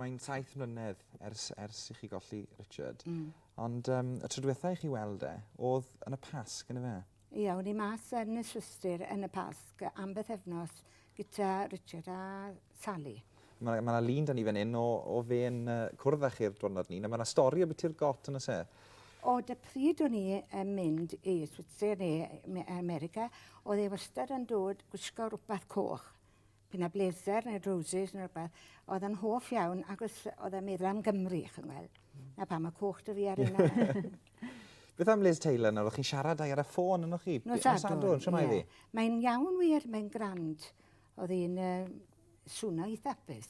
Mae'n saith mlynedd ers ers i chi golli Richard. Mm. Ond um, y tro diwetha i chi weld e, oedd yn y Pasg, yn y fe? Ia, o'n i mas yn y Swistir yn y Pasg am beth efnos gyda Richard a Sally. Mae yna lun da ni fan hyn o, o fe yn uh, cwrdd â chi'r diwrnod ni. Mae yna stori o beth i'r got yn y se. O, dy pryd o'n i yn mynd i Swistir neu America, oedd e wastad yn dod gwisgo rhywbeth coch. Bydd 'na bleser neu roses neu rhywbeth. Oedd yn hoff iawn ac oedd oedd e'n meddwl am Gymru, chi'n gweld. Na pam y coch dy fi ar yna. Beth am Liz Taylor nawr? O'ch chi'n siarad â'i ar y ffôn ynoch chi? Nos Sadwrn, siwr mae ddi. Mae'n iawn wir, mae'n grand. Oedd hi'n uh, swno i thapus.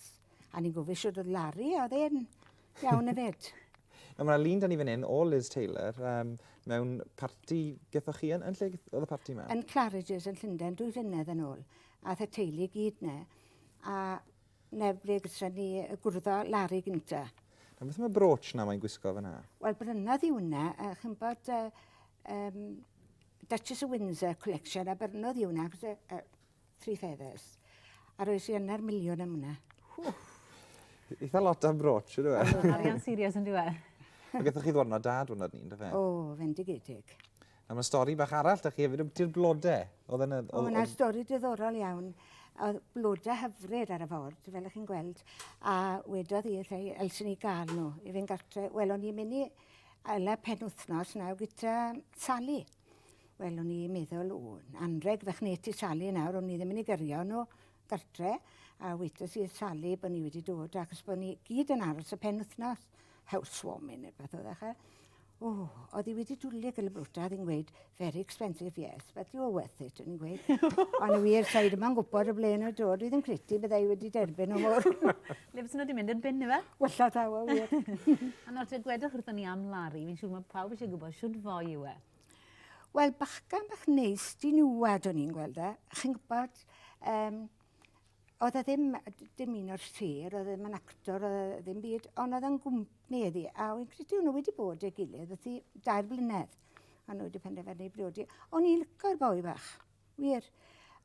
A ni'n gofio siwr oedd Larry, oedd e'n iawn y fed. Nawr mae lun da ni fan hyn o Liz Taylor um, mewn parti gyda chi yn, yn lle oedd y parti yma? Yn Claridge's yn Llundain, dwy flynedd yn ôl. Ath y teulu i gyd 'ne a 'ne ble gytre ni yy gwrddo Larry gynta. A beth am y brooch 'na mae'n gwisgo fan 'na? Wel brynodd i wnna a chi'n bod yy yym Duchess of Windsor collection a byrnodd i wnna achos y y three feathers. A roes i yna'r miliwn am wnna. Ww! Eitha lot am brooch on'd yw e? Arian serious on'd yw e? Ag ethoch chi ddwrnod da dwrnod ni on'd yfe? O fendigedig. A mae stori bach arall 'da chi hefyd ambiti'r blodau. Oedd yna... O, yna stori diddorol iawn. Oedd blodau hyfryd ar y ford, fel ych chi'n gweld. A wedodd i wrtha i, elsen ni gael nhw i fynd gartre. Wel, o'n i'n mynd i ala pen wythnos nawr gyda Sally. Wel, o'n i'n meddwl, o, anreg fach nes ti Sally nawr, o'n i ddim yn ei gyrio nhw. gartre a wedes i wrth Sali bod ni wedi dod achos bod ni gyd yn aros y penwythnos housewarming neu beth oedd e chael. O, oedd hi wedi dwlu gyda brwta, oedd hi'n gweud, very expensive, yes, but you're worth it, o'n i'n gweud. Ond y wir, sa'i ddim yn gwybod y ble yn y dod, oedd yn credu byddai wedi derbyn o mor. Le fes nhw wedi mynd i'r bin, efe? Wella tawa, wir. A nawr, te gwedwch wrthyn ni am Larry, fi'n siŵr mae pawb eisiau gwybod siwr fwy yw e. Wel, bachgen bach neis, di niwed o'n i'n gweld e. Chi'n gwybod, um, oedd e ddim, dim un o'r sir, oedd e ddim yn actor, oedd e ddim byd, ond oedd e'n gwmni iddi. A o'n i'n credu nhw wedi bod ei gilydd, oedd hi dair blynedd. A nhw wedi penderfynu i briodi. O'n i'n lyco'r boi bach, wir.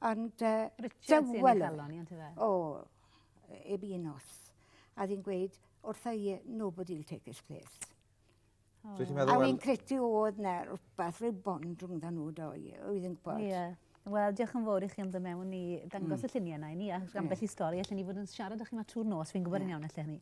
Ond uh, Richard sy'n ei galon i, yntdo fe? O, eb un os. A ddi'n gweud, wrtho i, nobody will take his place. O. Dwi 'di meddwl wel... A wi'n credu o'dd 'na rwbath ryw bond rhwngddo nhw do i- yy wi ddim gwbod. Ie. Wel diolch yn fowr i chi am do' mewn i dangos... Hmm. ...y llunie 'na i ni a ambell i stori allen ni fod yn siarad â chi 'ma trw'r nos fi'n gwbod yn iawn allen i.